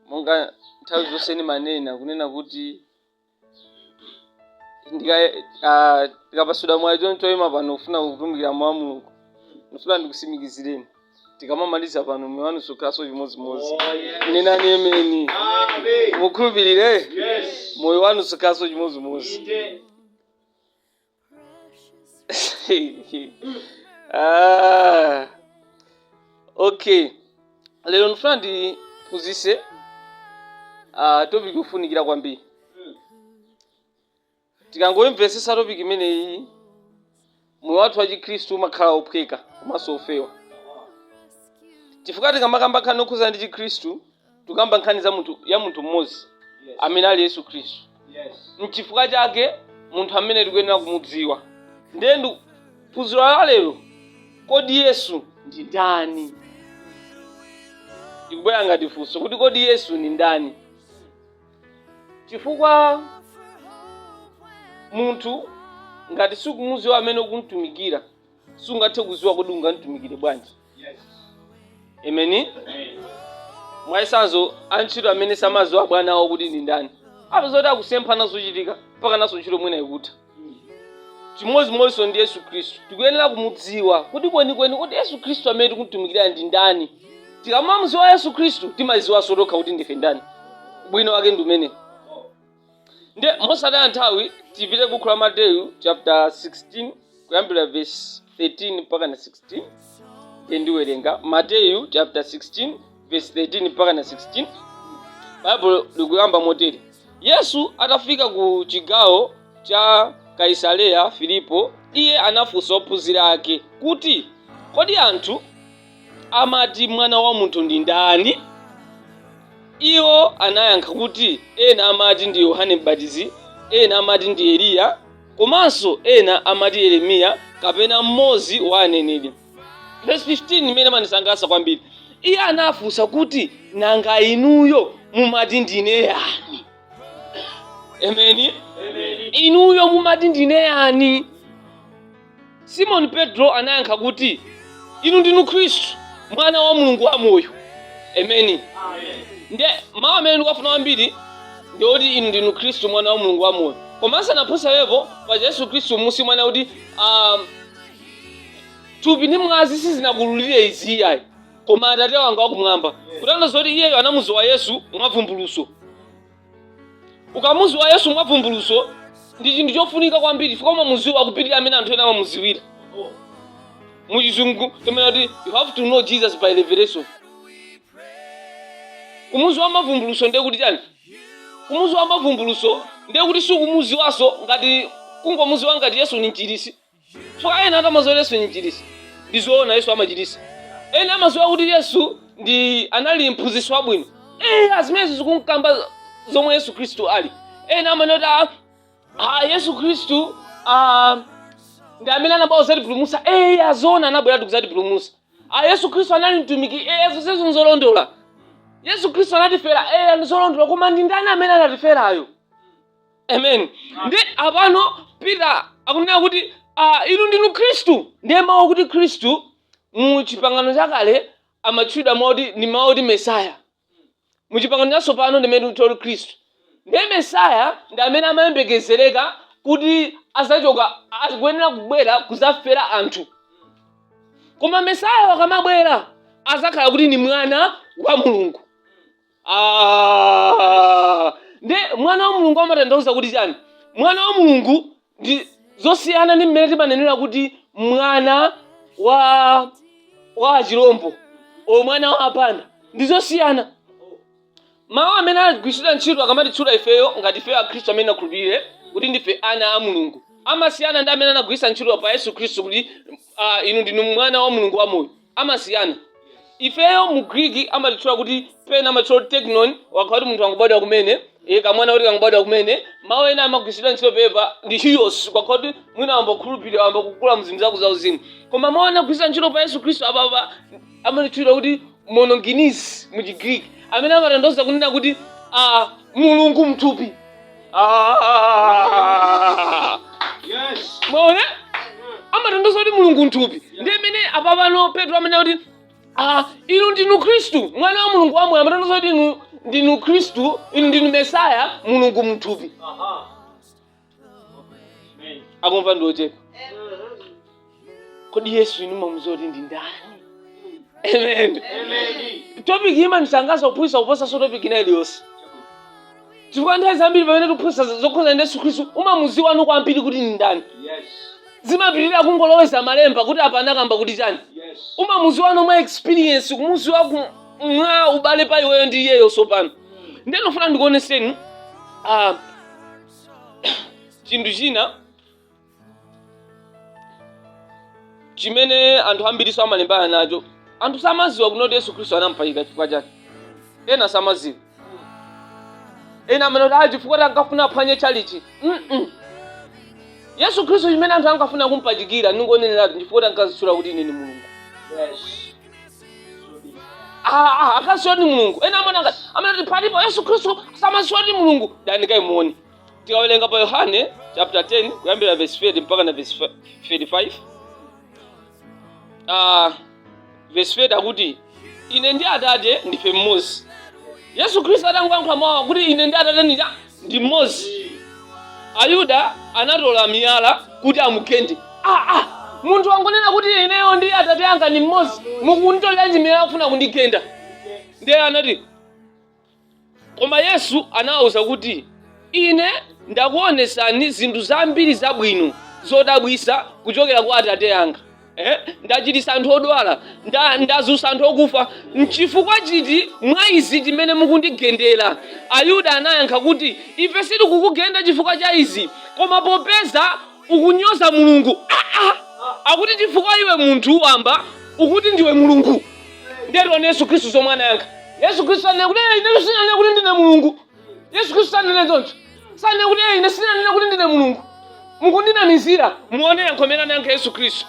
monga nthawi zonse ndimanena kunena kuti ndika- ah, tikapatsidwa mwayi choncho oyima pano kufuna kutumikira mawu a mulungu ndifuna ndikusimikizireni tikamamaliza pano moyo wanu sukhalanso chimodzimodzi nenani emeni mukhulupirire moyo wanu sukhalanso chimodzimodzi ah. okay lero ndifuna ndiphunzise ah, topic yofunikira kwambiri tikangoyimvesesa topic imeneyi moyo wathu wa chikhristu umakhala wophweka komanso wofewa chifukwa tikamakamba nkhani okhuzana ndi chikhristu tikukamba nkhani za ya munthu mmodzi Yes. amene ali yesu khristu Yes. mchifukwa chake munthu amene tikuyenera kumudziwa ndiye ndi phunziro la lero kodi yesu ndi ndani likubwera ngati funso kuti kodi yesu ndi ndani chifukwa munthu ngati sukumudziwa amene ukumtumikira sungathe kuziwa kodi ungamtumikire bwanji emeni mwachisanzo antchito amene samaziwa abwana awo kuti ndi ndani apeza kuti akusemphana zochitika mpaka naso ntchito mwina ikutha chimodzimodzinso ndi yesu khristu tikuyenera kumudziwa kuti kwenikweni kuti yesu khristu amene tikumtumikira ndi ndani tikamamudziwa yesu khristu timadziwanso tokha kuti ndife ndani ubwino wake ndi umene Ndiye mosataya nthawi tipite buku la Mateyu chapter 16 kuyambira verse 13 mpaka na 16 ndiye ndiwerenga Mateyu chapter 16 verse 13 mpaka na 16 Baibulo likuyamba motere Yesu atafika ku chigawo cha Kaisareya Filipo iye anafunsa ophunzira ake kuti kodi anthu amati, Mwana wa munthu ndi ndani? Iwo anayankha kuti, Ena amati ndi Yohane M'batizi, ena amati ndi Eliya, komanso ena amati Yeremiya kapena mmodzi wa aneneri. Vesi 15 imene imandisangalatsa kwambiri, iye anafunsa kuti, Nanga inuyo mumati ndine yani? Ameni. Inuyo mumati ndine yani? Simoni Petro anayankha kuti, Inu ndinu Khristu, Mwana wa Mulungu wamoyo. Ameni. Ndiye mawu amene ndikuwafuna kwambiri ndi oti inu ndinu Khristu, Mwana wa Mulungu wamoyo. Komanso anaphunzitsa Yevo, paja Yesu Khristu m'munsimu ananena kuti um, thupi ndi mwazi sizinakuululire izi iyayi koma atate wanga wakumwamba kutanthauza kuti iyeyo anamudziwa yesu mwavumbulutso ukamuziwa yesu mwa vumbuluso ndi chinthu chofunika kwambiri chifukwa umamuziwa kupitira amene anthu ena amamuziwira muchizungu timanena kuti you have to know jesus by revelation kumuziwa mwa vumbuluso ndiye kuti chani kumuziwa mwa vumbuluso ndiye kuti sukumuziwanso ngati kungomuziwa ngati yesu ni mchirisi Chifukwa ena amaziwa Yesu ni mchilisi. Ndi zoona Yesu amachilisa. Ena amaziwa kuti Yesu ndi anali mphuzisi wabwino. Eya zimenezo zikunkamba zomwe Yesu Kristu ali. Ena amanena kuti ah, ah, Yesu Kristu ah, ndi amene anabwera kuzatipulumusa eya zoona anabweradi kuzatipulumusa a yesu khristu anali mtumiki eya zonsezo nzolondola yesu khristu anatifera eya nzolondola koma ndi ndani amene anatiferayo amen ndi apano peter akunena kuti ah, inu ndinu khristu ndiye mawu kuti khristu mu chipangano chakale amatchulidwa kuti ndi mawu oti mesaya mu chipangano chatsopano ndi mmene tikutchula kuti khristu ndiye mesaya ndi amene amayembekezereka kuti azachoka akuyenera kubwera kuzafera anthu koma mesaya akamabwera azakhala kuti ndi mwana wa mulungu Ah! nde mwana wa mulungu amatanthauza kuti chani mwana wa mulungu ndi zosiyana ndi mmene timanenera kuti mwana wa wa achilombo or mwana wa apanda ndi zosiyana mawu amene anagwiritsidwa ntchito akamatitchula ifeyo ngati ifeyo akhristu amene anakhulupirira kuti ndife ana a mulungu amasiyana ndi amene anagwiritsa ntchito pa yesu khristu kuti ah, inu ndinu mwana wa mulungu wamoyo amasiyana ifeyo mu greek amatitchula kuti pena amatitchula kuti teknon kwakhala kuti munthu wangobadwa kumene iye kamwana kuti kangobadwa kumene mawu ena amagwiritsidwa ntchito pena ndi hiyos kwakhala kuti mwina wayamba kukhulupirira wayamba kukula mu zinthu zako za uzimu koma mawu anagwiritsa ntchito pa yesu khristu apapa amatchula kuti monogenes mu chigriki amene amatanthauza kunena kuti a mulungu mthupi Ah! Yes. mwaona amatanthauza kuti mulungu mthupi ndi amene apapano petro amanena kuti ah, inu ndinu khristu mwana wa mulungu wamoyo amatanthauza kuti inu ndinu khristu inu ndinu mesaya mulungu mthupi Aha. akumva ndi ochepa kodi yesu inu mumamuziwa kuti ndi ndani amen topic iyi imandisangalatsa kuphunzitsa kuposanso topic ina iliyonse chifukwa nthawi zambiri pamene tikuphunzitsa zokhudza ndi yesu khristu umamuziwano kwambiri kuti ndi ndani zimapitirira kungoloweza malemba kuti apa anakamba kuti chani umamuziwano mwa experience kumuziwa ku- mwa ubale pa iweyo ndi iyeyo sopano ndiye ndikufuna ndikuoneseni ah, chinthu china chimene anthu ambirinso amalimbana nacho anthu samaziwa kunena kuti yesu khristu anampachika chifukwa chake ena samaziwa ena amanena kuti "Ah, chifukwa kuti ankafuna aphwanye chalichi Mm-mm. yesu khristu chimene anthu ankafuna kumpachikira ndingoneneratu nchifukwa kuti ankazitchula kuti ine ni mulungu Yes. Ah, ah, akaziwa ndi mulungu ena amanena ngati amanena kuti palipo yesu khristu samaziwa ndi mulungu dani kaye muone tikawerenga pa yohane chapter 10 kuyambira verse 30 mpaka na verse 35 ah, verse 30 akuti ine ndi atate ndife mmodzi yesu khristu atangoyankhula mawu kuti ine ndi atate ndija ndi mmodzi. Ayuda anatola miyala kuti amugende. Aa, munthu wangonena kuti ineyo ndi atate anga ndi mmodzi, mukunditoleranji miyala yakufuna kundigenda? Ndiye anati, koma Yesu anawawuza kuti, Ine ndakuonetsani zinthu zambiri zabwino zodabwitsa kuchokera kwa Atate anga. eh? ndachiritsa anthu odwala nda, ndazusa anthu okufa mchifukwa chiti mwa izi chimene mukundigendera ayuda anayankha kuti ife sitikukugenda chifukwa cha izi koma popeza ukunyoza mulungu ah, ah. akuti chifukwa iwe munthu wamba ukuti ndiwe mulungu nde tione yesu khristu zomwe anayankha yesu khristu anena kuti "Eh, inetu sinanena kuti ndine mulungu yesu khristu sananene choncho sananene kuti "Eh, ine sinanene kuti ndine mulungu mukundinamizira muone yankho mmene anayankha yesu khristu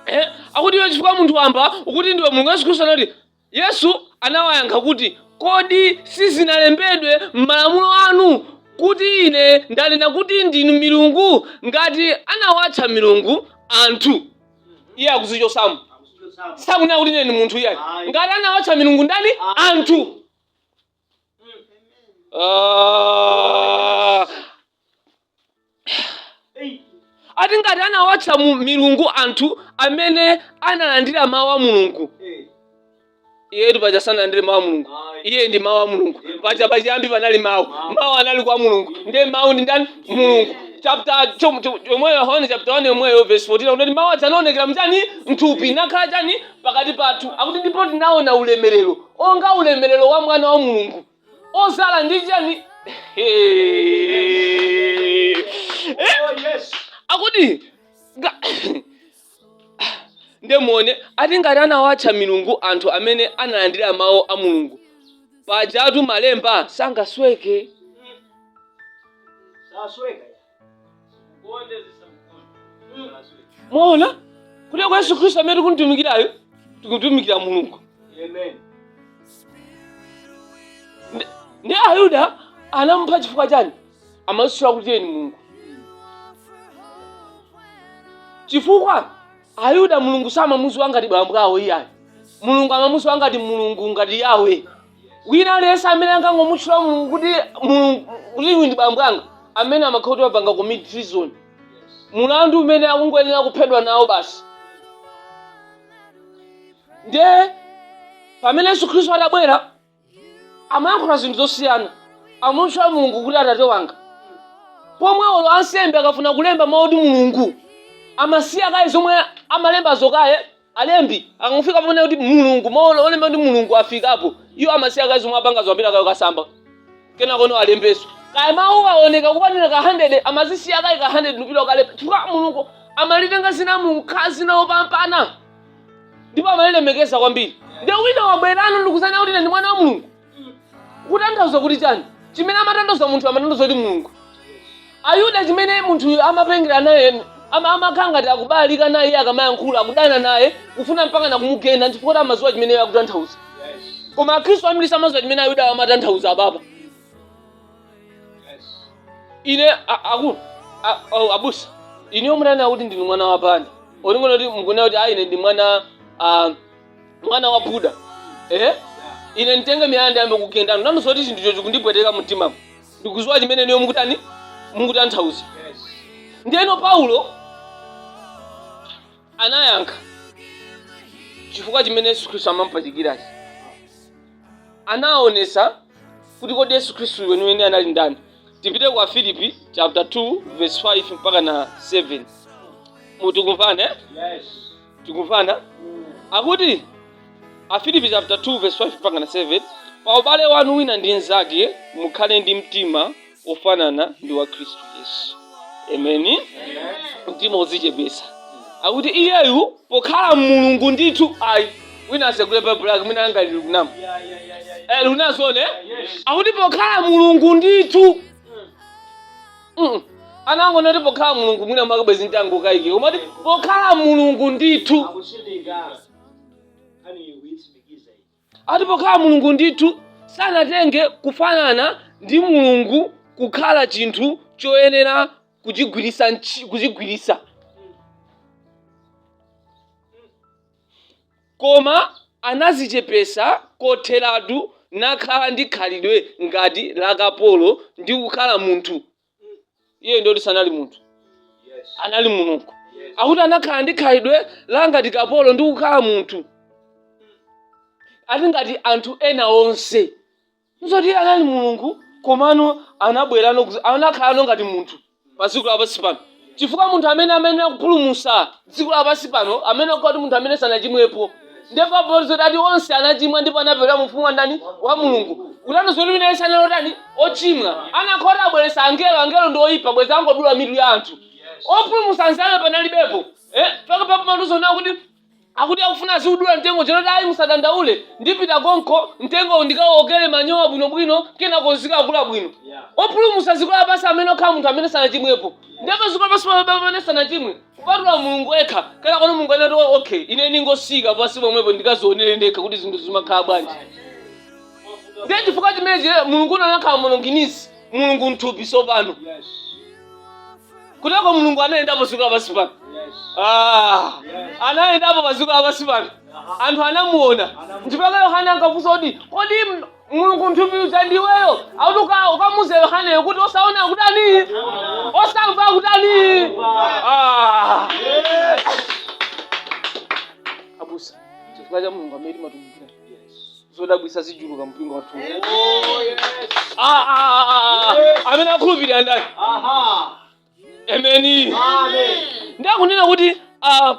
Eh, akuti iwe chifukwa munthu wamba ukuti ndiwe mulungu yesu khristu anati yesu anawayankha kuti kodi sizinalembedwe m'malamulo anu kuti ine ndanena kuti ndinu milungu ngati anawatcha milungu anthu iye akuzichotsamo sakunena kuti ine ndi munthu iyayi ngati anawatcha milungu ndani anthu Ah. ati ngati anawatcha mu milungu anthu amene analandira mawu a mulungu iyetu paja sanalandire mawu a mulungu iye ndi mawu a mulungu paja pachiyambi panali mawu mawu anali kwa mulungu ndiye mawu ndi ndani mulungu chapter chom- chom- chomweyo yohane chapter 1 yomweyo verse 14 akuti mawu anaonekera mchani mthupi nakhala chani pakati pathu akuti ndipo tinaona ulemerero onga ulemerero wa mwana wa mulungu ozala ndi chani akuti nga- nde muone ati ngati anawatcha milungu anthu amene analandira mawu a mulungu pajatu malemba sangasweke mwaona kuti kwa yesu khristu amene tikumtumikirayo tikumtumikira mulungu Ndi- ndi ayuda anamupha chifukwa chani amatchula kuti iye ndi mulungu chifukwa ayuda mulungu samamuziwa ngati bambo awo iyayi mulungu amamuziwa ngati mulungu ngati yawe wina aliyense amene angangomutchula mulungu kuti uyu ndi bambo anga amene amakhala kuti wapanga commit treason mulandu umene akungoyenera kuphedwa nawo basi ndiye pamene yesu khristu atabwera amayankhula zinthu zosiyana amutchula mulungu kuti atate wanga pomwe olo ansembe akafuna kulemba mawu oti mulungu amasiya kaye zomwe amalembazo kaye Alembi akangofika ponena kuti Mulungu, mau olemba kuti Mulungu afikapo, iwo amasiya kaye zomwe apangazo amapita kaye kukasamba, kenakono alembenso. Kaya mauwo aoneka kukwanila ka handede, amazisiya kaye ka handede ndi kupita kukalemba cifukwa Mulungu amalitenga dzina la Mulungu kukhala dzina lopambana ndipo amalilemekeza kwambili. Ndiye wina wabwelano ndi kudzanena kuti ine ndi mwana wa Mulungu. kutanthauza kuti chani chimene amatanthauza munthu amatanthauza kuti mulungu ayuda chimene munthuyu amaphengera naye ama- amakhala ngati akubalika naye iye akamayankhula akudana naye kufuna mpaka na kumugenda chifukwa kuti amaziwa chimene iye akutanthauza koma akhristu ambiri samaziwa chimene ayuda amatanthauza ababa ine a- akulu a- a- abusa ine mutanena kuti ndinu mwana wa ndani olo ngono kuti mukunena kuti ayi ine ndi mwana ah, mwana wa buda eh? ine nditenge miyala ndiyambe kugendana nanu zoti chinthucho chikundipweteka mumtimamu ndikuziwa chimene inuyo mukutani mukutanthauza ndiyeno paulo anayankha chifukwa chimene yesu khristu amampachikirachi anaonesa kuti kodi yesu khristu weniweni anali ndani tipite kwa filipi chapter 2 verse 5 mpaka na 7 tikumvana eh? Yes. tikumvana akuti afilipi chapter 2 verse 5 mpaka na 7 pa ubale wanu wina ndi mnzake mukhale ndi mtima wofanana ndi wa khristu yesu amen mtima wodzichepetsa akuti iyeyu pokhala mulungu ndithu ayi wina asegule baibulo lake mwina anga likunama eh, likunena zoona akuti pokhala mulungu ndithu Mm. anangonena kuti pokhala mulungu mwina mwake bwezi nditangokayika koma ati pokhala mulungu ndithu akutsindika nkhani ikuyitsimikiza iyi ati pokhala mulungu ndithu sanatenge kufanana ndi mulungu kukhala chinthu choyenera kuchigwiritsa ntchi- kuchigwiritsa Koma anadzichepetsa kotheratu nakhala ndi khalidwe ngati la kapolo ndi kukhala munthu. Iye ndoti sanali munthu, anali Mulungu. Akuti anakhala ndi khalidwe la ngati kapolo ndi kukhala munthu. Ati ngati anthu ena onse. Nzoti iye anali Mulungu komano anabwerano kuza- anakhalano ngati munthu pa dziko lapansi pano. Chifukwa munthu amene amayenera kupulumutsa dziko lapansi pano amene akhala kuti munthu amene sanachimwepo. Ndipo apo zoti ati onse anachimwa ndipo anaperewera mu ufumu wa ndani? Wa Mulungu. Kutanthauza zoti wina yense anali otani? Ochimwa. Anakati abweretse angelo, angelo ndi oyipa bwezi angodula mitu ya anthu. Opulumutsa anzake panalibepo. Eh, mpaka mpaka maluzo nawo kuti akuti akufuna aziudula mtengo chonoti ayi musadandaule ndipita konko mtengowu ndikawokere manyowa bwinobwino kenako zikakula bwino opulumusa ziko lapasi amayenera kukhala munthu amene sanachimwepo ndipo ziko lapasi palibe amene sanachimwe kupatula mulungu yekha kenako no mulungu anati "Oh, okay ine ndingosika pasi pomwepo ndikazionere ndekha kuti zinthu zimakhala bwanji ndiye chifukwa chimenechi mulungu anakhala mononginisi mulungu mthupi sopano kuteroko mulungu anayenda paziko lapansi pano Ah, anayendapo paziko lapansi pano anthu anamuona mpaka yohane ankafunsa kuti kodi m- mulungu mthupi uja ndiweyo akuti uka- ukamuuze yohaneyo kuti osaona akutani osamva akutani Ah. abusa chifukwa cha mulungu amene timatumikira zodabwisa zichuluka mpingo wathu Ah, ah, ah, ah, ah. amene akhulupirira ndani ameni ndikunena kuti ah,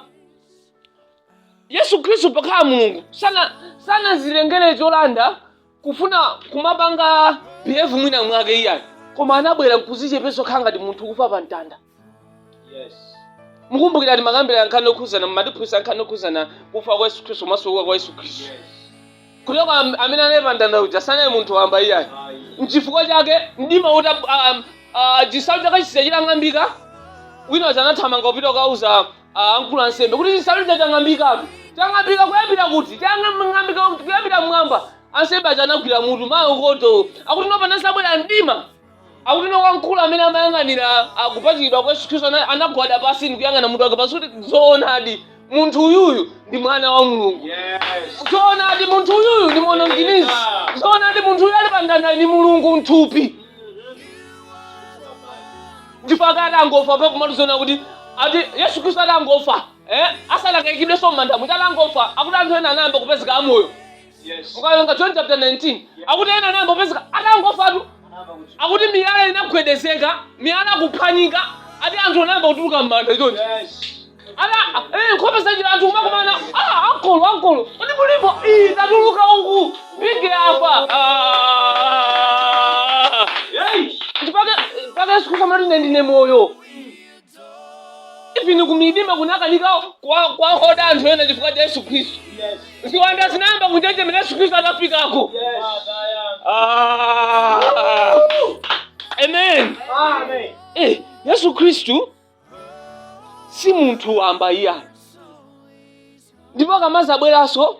yesu khristu pokhala mulungu sana sanazilengere cholanda kufuna kumapanga behave mwina mwake iyayi koma anabwera nkuzichepesa kukhala ngati munthu kufa pa mtanda mukumbukira timakambirana nkhani yokhuzana mumatiphunzitsa nkhani yokhuzana kufa kwa yesu khristu komanso kuuka kwa yesu khristu kuteroko am- amene anali pa mtanda uja sanali munthu wamba iyayi mchifukwa chake mdima uta um, uh, chisalu chake chija chitang'ambika wina uja anathamanga kupita kukauza uh, mkulu wa ansembe kuti chisalu chija chang'ambikatu chang'ambika kuyambira kuti chang'ambika kuyambira mmwamba ansembe aja anagwira mutu mayo koto akuti no panazabwera mdima akuti no wamkulu amene amayang'anira kupachikidwa kwa yesu khristu ana- anagwada pasi ndikuyang'ana mutu wake pasi kuti zoonadi munthu uyuyu ndi mwana wa mulungu Yes. zoonadi munthu uyuyu ndi mononginisi zoonadi munthu uyu ali pa mtanda ndi mulungu mthupi ndipo akuti atangofa pa kumalizona kuti ati yesu khristu atangofa eh? asanakaikidwenso m'mandamu ati atangofa akuti anthu ena anayamba kupezeka amoyo Yes. ukawerenga john chapter 19 akuti ena anayamba kupezeka atangofatu Anayamba kuti. akuti miyala inagwedezeka miyala kuphwanyika ati anthu anayamba kutuluka m'manda chonchi Yes. ala eh, nkhope zachira anthu kumakumana ah, ankolo ankolo kuti mulipo ii tatuluka uku pige apa Ah. Yes. Ndipake- pake yesu khristu amati ine ndine moyo even kumidima kunakanika kwa- kwahoda anthu ena chifukwa cha yesu khristu ziwanda zinayamba kunjenjemera yesu khristu atafikako Ah. amen Eh, yesu khristu si munthu wamba iyayi ndipo akamazabweranso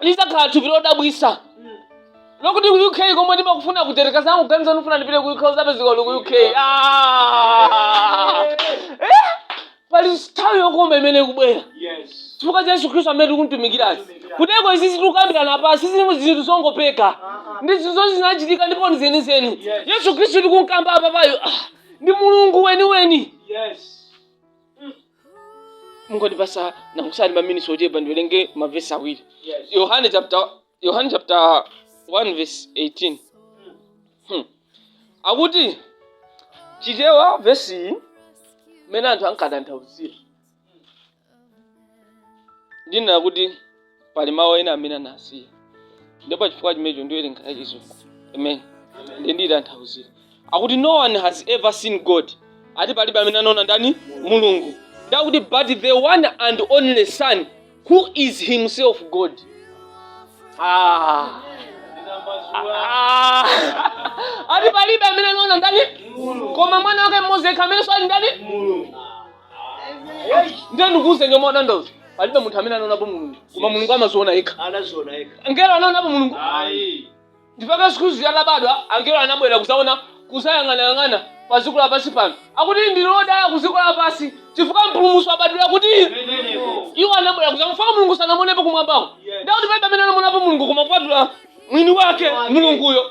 lidzakhala thupi lodabwisa lokuti ku uk komwe ndimakufuna kungoganiza ndifuna ndipite ku uk uzapezeka uli ku uk Ah! Eh? pali nthawi yokoma imene ikubwera Yes. chifukwa cha yesu khristu amene tikumtumikirayu kuteko izi tikukambirana apa si zinthu zongopeka ndi zinthu zoti zinachitika ndipo ndi zenizeni Yes. yesu khristu tikumkamba apapayo ah, ndi mulungu weniweni Yes. mungondipatsako nasali maminisi ochepa ndiwerenge mavesi awiri Yes. yohane chapter yohane chapter 1 verse 18 hmm. akuti chichewa vesi iyi mmene anthu ankatanthauzira ndinaona kuti pali mawu ena amene anasiya ndipo pachifukwa chimenecho ndiwerenga yachizungu amen nde nditanthauzira akuti no one has ever seen god ati palibe amene anaona ndani mulungu nde akuti but the one and only son who is himself god ah. Ah. ati palibe amene anaona ndani koma mwana wake mmodzi yekha amenenso ali ndani ndiye ndikuuze nyama wadandaula palibe munthu amene anaonapo mulungu koma mulungu amaziona yekha anaziona yekha angelo anaonapo mulungu ayi ndipake yesu khristu atabadwa angelo anabwera kuzaona kuzayang'anayang'ana pa dziko lapansi pano akuti ndi lodala dziko lapansi chifukwa mpulumutsi wabadwira kuti pamenepo iwo anabwera kuzamuona mulungu sanamuonepo kumwambako Yes. nde akuti palibe amene anamuonapo mulungu koma kupatula mwini wake mulunguyo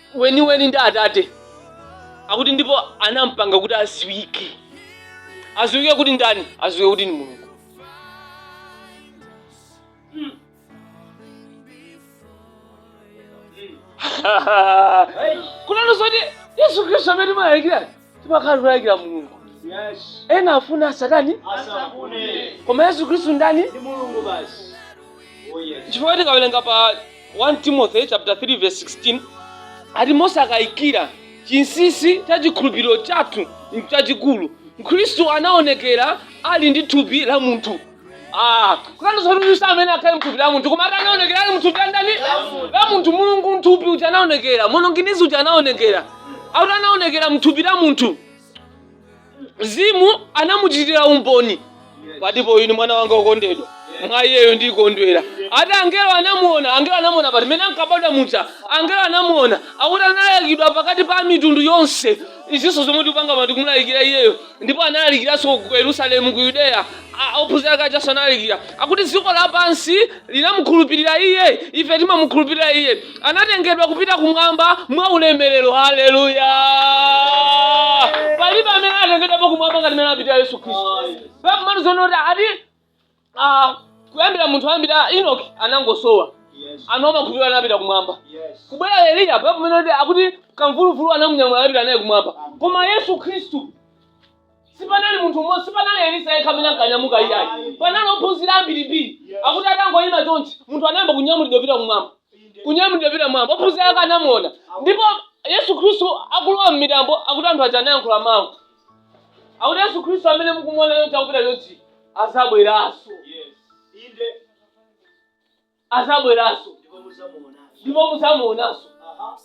weniweni ndi Atate. Akuti ndipo anampanga kuti aziwike. Aziwike kuti ndani? Aziwike kuti ni Mulungu. Hmm. Kunena zoti Yesu Kristo amene timalalikira. timakhala tikulalikira mulungu Yes. ena afune asafune Asafune. koma yesu khristu ndani Ndi Mulungu basi. Oh yes. chifukwa tikawerenga pa 1 timothy chapter 3 verse 16 ati mosakayikira chinsisi cha chikhulupiriro chathu n'chachikulu khristu anaonekera ali ndi thupi la munthu Ah, kukana zotutusa amene akhale mthupi la munthu koma ati anaonekera ali mthupi la ndani la munthu mulungu mthupi uti anaonekera mulunginisi uti anaonekera akuti anaonekera mthupi la munthu mzimu anamuchitira umboni patipo inu mwana wanga wokondedwa mwa iyeyo ndikondwera ati angelo anamuona angelo anamuona pati mene ankabadwa muja angelo anamuona akuti analalikidwa pakati pa mitundu yonse Izinso zomwe tikupanga pano tikumulalikira iyeyo. Ndipo analalikiranso ku Yerusalemu, ku Yudeya. A, ophunzira ake ajanso analalikira. Akuti dziko lapansi linamukhulupirira iye. Ife timamukhulupirira iye. Anatengedwa kupita kumwamba mwa ulemerero. Haleluya! Palibe amene anatengedwapo kumwamba ngati mmene anapitira Yesu Khristu. Pamene zonena kuti ati Ah, kuyambira munthu woyambira enoki anangosowa Yes. anthu amakhulupirira anapita kumwamba Yes. kubwera eliya pa pamene kuti akuti kamvuluvulu anamunyamula anapita naye kumwamba koma yesu khristu sipanali munthu mmodzi sipanali elisa yekha amene ankanyamuka iyayi panali ophunzira ambirimbiri akuti atangoyima chonchi munthu anayamba kunyamulidwa pita kumwamba kunyamulidwa pita kumwamba ophunzira ake anamuona ndipo yesu khristu akulowa m'mitambo akuti anthu aja anayankhula mawu akuti yesu khristu amene mukumwona chonchi akupita chonchi azabweranso Yes. Inde. azabweranso Ndipo muzamuona. ndipo muzamuonanso Aha.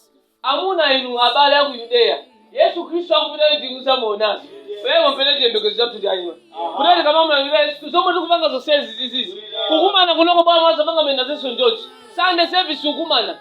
amuna inu abale aku yudeya yesu khristu akupita chonchi muzamuonanso peko mpamene chiyembekezo chathu chaima kuti tikamamulalikira yesu khristu zomwe tikupanga zonsezi izizi kukumana kunoko bwana wazapanga mena zinso njochi Sunday service ukumana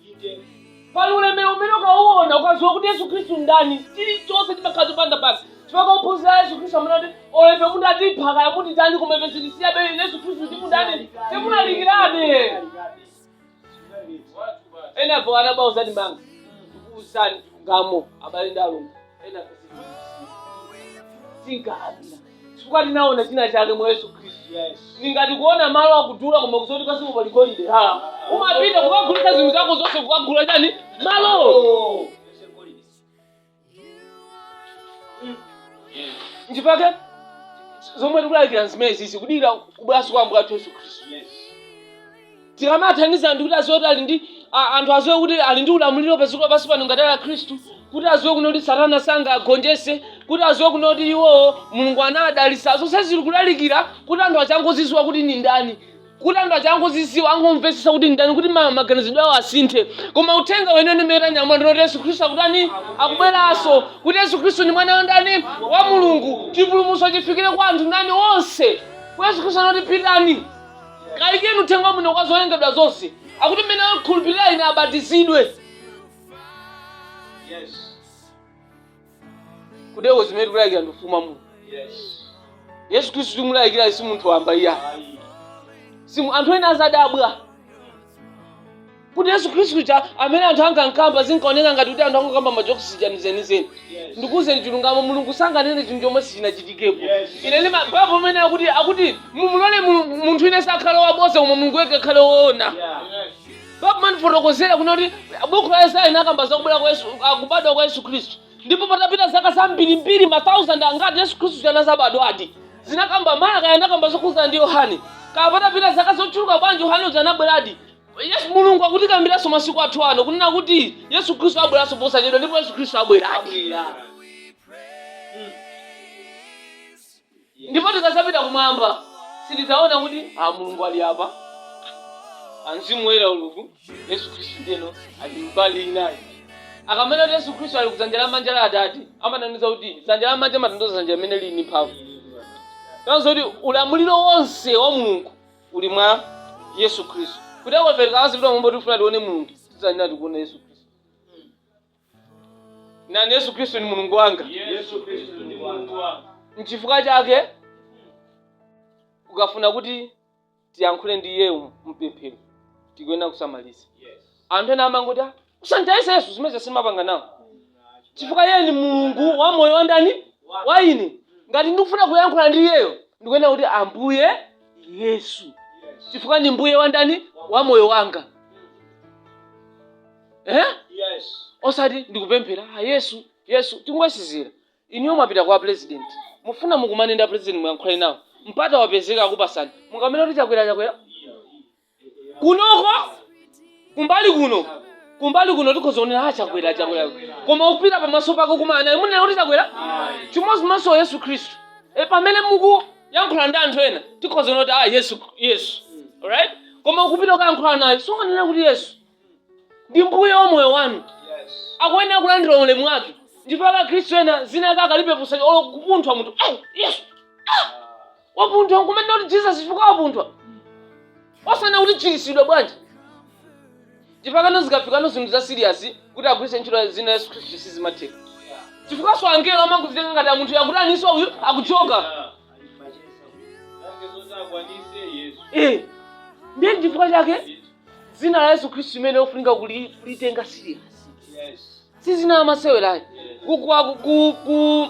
Inde. pali ulemerero umene ukauona ukadziwa kuti yesu khristu ndani chilichonse chimakhala chopanda pake chifukwa ophunzira a yesu khristu amene ati olo ife mutatipha kaya mutitani koma ife sitisiyabe yesu khristu timutani timulalikirabe enapo anaba uzani manga ndikuuzani chilungamo abale ndi alongo enapo singaamina chifukwa tinaona china chake mwa yesu khristu ndi ngati kuona malo akudula koma kuzoti pansipo pali golide ha umapita kukagulitsa zinthu zako zonse kukagula chani malo nchifukwa chake zomwe tikulalikira zimenezizi kudikira kubweranso kwa ambuye athu yesu khristu tikamathandiza anthu kuti aziwe kuti ali ndi a- anthu aziwe kuti ali ndi ulamuliro pa dziko lapansi pano ngati ali a khristu kuti aziwe kunena kuti satana sangawagonjese kuti aziwe kunena kuti iwowo mulungu anawadalitsa zonsezi tikulalikira kuti anthu aja angoziziwa kuti ndi ndani kuti anthu aja angoziziwa angomvetsetsa kuti ndani kuti ma- maganizidwe awo asinthe koma uthenga weniweni umene tanyamula ndi woti yesu khristu akutani akubweranso kuti yesu khristu ndi mwana wandani wa mulungu chipulumutso chifikire kwa anthu ndani onse kwa yesu khristu anati pitani kalalikeni uthenga wabwino kwa zolengedwa zonse akuti mmene akhulupirira ine nabatizidwe Yes. kuteroko zimene tikulalikira ndi ufumu wa mulungu Yes. yesu khristu timulalikira si munthu wamba iya Aye. simu anthu ena azadabwa kuti yesu khristu uja amene anthu ankakamba zinkaoneka ngati kuti anthu akungokamba majokisi chani zenizeni ndikuwuzeni chilungamo mulungu sanganene chinthu chomwe sichinachitikepo Yes. ine limati baibulo imene akuti akuti mumulole mu- munthu yense akhale wabodza koma mulungu yekha akhale woona Yeah. baibulo limatifotokozera kunena kuti buku la yesaya inakamba za kubwera kwa yesu ah, kubadwa kwa yesu khristu ndipo patapita zaka zambirimbiri ma 1000 angati yesu khristu anazabadwadi zinakamba malakayi anakamba zokhudzana ndi yohane kaya patapita zaka zochuluka bwanji yohane uja anabweradi Yesu Mulungu akutikambiranso masiku athu ano kunena kuti Yesu Khristu abweranso posachedwa ndipo Yesu Khristu abweradi. Ndipo tikadzapita kumwamba sitidzaona kuti a Mulungu ali apa. A Mzimu Woyera ali uku Yesu Khristu ndiyeno ali mbali inayo. Akamanena kuti Yesu Khristu ali kudzanja lamanja la Atate amatanthauza kuti dzanja lamanja amatanthauza dzanja limene lili ndi mphamvu. Ndiyenso kuti ulamuliro wonse wa Mulungu uli mwa yesu khristu kuti ngakhale ife tikadzapita kumwamba tikufuna tione mulungu tidzanena tikuona yesu khristu nani yesu khristu ni mulungu wanga Yesu Kristu ni Mungu wangu. nchifukwa chake ukafuna kuti tiyankhule ndi iyeyo mpemphero tikuyenera kusamalitsa Yes. Anthu ena amangoti, "Ah, usanditayitse Yesu zimenezo sindimapanga nawo. Chifukwa iye ndi Mulungu wa moyo wa ndani? Wa ine. Ngati ndikufuna kuyankhula ndi iyeyo, ndikuyenera kuti Ambuye Yesu. Chifukwa ndi mbuye wa ndani? Wa moyo wanga. Eh? osati ndikupemphera ah, yesu yesu tingoyesezera inuyo mwapita kwa president mufuna mukumane ndi president muyankhule nawo mpata wapezeka akupatsani mukanene kuti chakwera chakwera kunoko kumbali kuno kumbali kuno tikhoza kunena ah chakwera chakwera koma ukupita pamaso pake kukumana naye munena kuti chakwera chimodzimodzinso yesu khristu e pamene mukuyankhula ndi anthu ena tikhoza kunena kuti ah yesu yesu right koma ukupita ukayankhula naye sunganene kuti yesu ndi mbuye wa moyo wanu akuyenera kulandira ulemu wake ndipo akhristu ena dzina lake akulipeputsa olo kupunthwa munthu "Ai, yesu ah, wapunthwa nkumanena kuti jesus chifukwa wapunthwa osanena kuti chiritsidwa bwanji mpaka pano zikafika pa zinthu za serious kuti agwiritse ntchito dzina la yesu khristu sizimatheka chifukwanso angelo amangozitenga ngati a munthuyu akutaninso uyu akujoka Eh, ndiye chifukwa chake dzina la yesu khristu imene ufunika kuli- kulitenga serious si zina la masewera ayi Ku- ku- ku- ku- ku-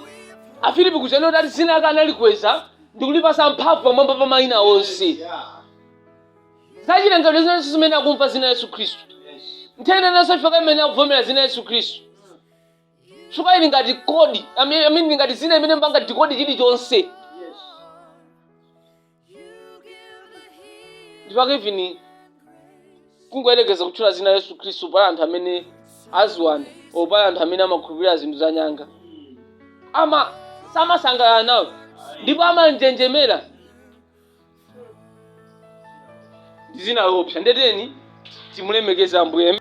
afilipi kuja anati zina lake analikweza ndikulipasa mphamvu pamwamba pa mayina onse zachilengedwe zinanso zimene akumva zina la yesu khristu nthenda nazonso ifika imene akuvomera zina la yesu khristu chifukwa ili ngati kodi amene ngati zina imene imapanga decode chilichonse ndipake even kungoyerekeza kutchula zina la yesu khristu pali anthu amene aziwanda o pali anthu amene amakhulupirira zinthu za nyanga ama samasangalala nawo ndipo amanjenjemera ndi zina lopsa ndeteni timulemekeze ambuye